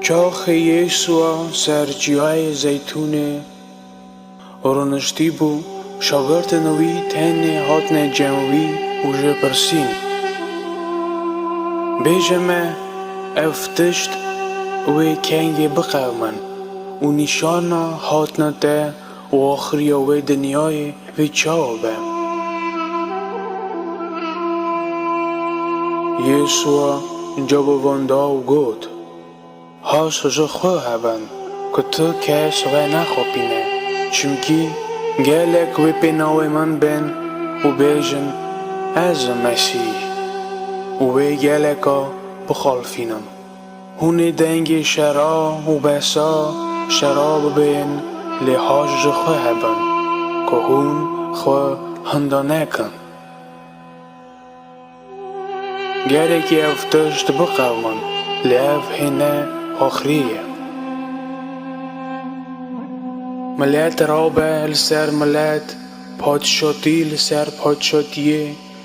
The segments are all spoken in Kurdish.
Çaxê Yêsûa ser Ciyayê Zeytûnê rûniştîbû, şagirtên wî tenê hatine cem wî û jê pirsîn, Bêje me ev tişt wê kengê biqewimin û nîşana hatina te Û axiriya wê dinyayê wê çawa be? Yêsûa cewab wan da û got, Haş ji xwe hebin ku tu kes we nexapîne, çimkî gelek wê pê navê min bên û bêjin, Ez im Mesîh, û wê geleka bixalfînim. Hûnê dengê şera û behsa şera bibên lê haş ji xwe hebin ku hûn xwe hinda nekin. Gerekî ev tişt biqewmin lê ev hê ne axirî ye. Milet rabe li ser milet, patişatî li ser patişatiyê,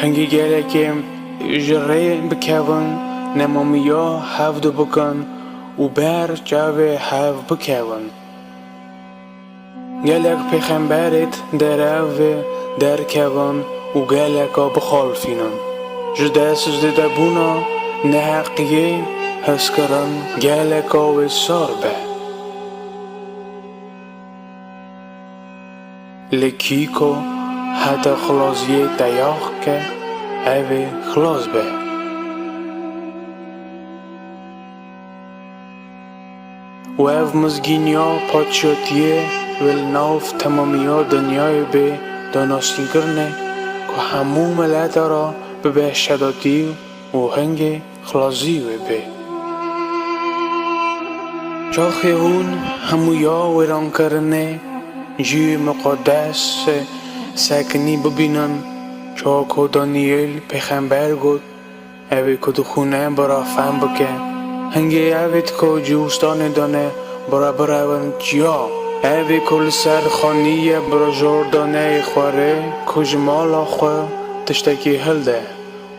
Hingî gelekê ji rê bikevin nemamiya hev dibikin û ber çavê hev bikevin. Gelek pêxemberêt derevê derkevin û geleka bixalfînin. Ji dest zêdebûna neheqiyê hezkirin geleka wê sar be. Li kîko heta xilaziyê teyax ke ev ê xilas be. Û ev mizgîniya paçiyatiyê wê li nav temamiya dinyayê bê danasînkirinê ku hemû milete ra bibe şedatî û hingê Xlazî wê bê. Çaxê hûn hemû ya wêrankirinê jî muqedes e, sekinî bibînin çawa ku Daniyêl pêxember got, Evê ku dixwîne bira fehm bike. Hingê evê ku ji wistanê dane bira birewin çiya? Evê ku li ser xanîyê bira jor dane ê xwere ku ji mala xwe tiştekî hilde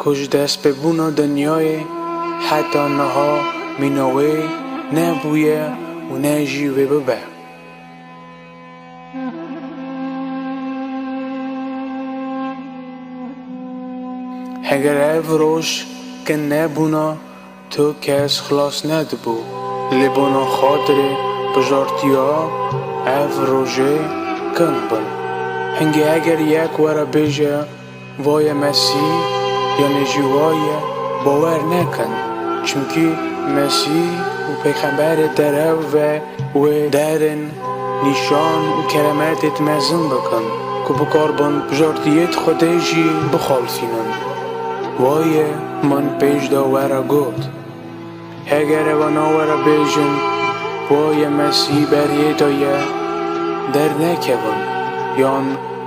Ku ji destpêbûna dinyayê heta niha mîna wê ne bûye û ne jî wê bibe. Heger ev roj kin nebûna. Tu kes xilas nedibû. Li bona xatirê bijartiya ev rojê kin bin. Hingê eger yek were bêje vaye Mesî yanê jî waye bawer nekin. Çimkî Mesî û peyxemberê derev ve. Wê deherên nîşan û keremetê te mezin bikin ku bikarbin bijartiyê te Xwedê jî bixalsînin. Wayê min pêş de were got. Heger ew nawere bêjin wayê me sî beriyê de ye dernekevin yan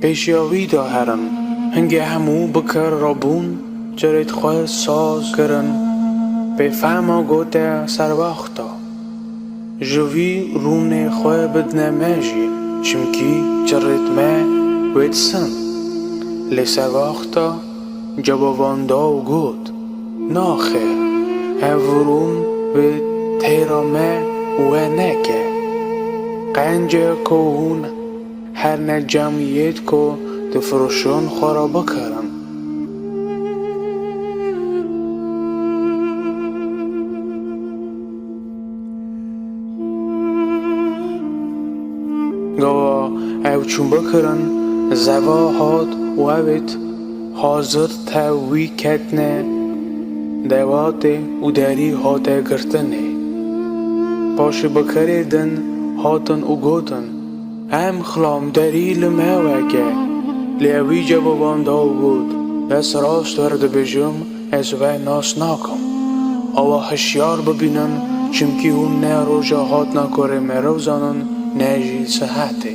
Pêşiya wî de herin. Hingê hemû bi kir re bûn, çirê xwe saz kirin. Pê fehma gote serwexta ji vî rûnê xwe bidine me jî, çimkî çirê me wê disin. Lê serwexta cewavan da û got, Naxir, ev rûn bi têra me we neke. Qencê ku hûn. Her ne camî yêd ku difiroşon xwe ra bikarin. Gava ew çûn bikirin, zeva hat û evêt hazir tev wî ketine devatê û derî hate girtinê. Paşê bikerê din hatin û gotin. Em xilamderî li me weke. Lê ew wî cevaban da û got, Ez rast vir dibêjim, ez we nas nakim. Awa hişyar bibînin, çimkî hûn ne roja hatina korê meriv zanin ne jî sihetê.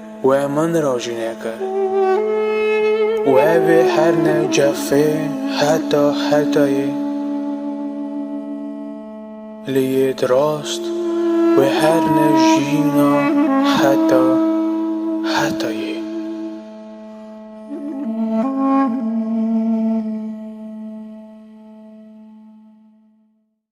We min re jî nekir. Û evê her ne cefê heta hetayê li yê di rast wê her ne jîna heta hetayê.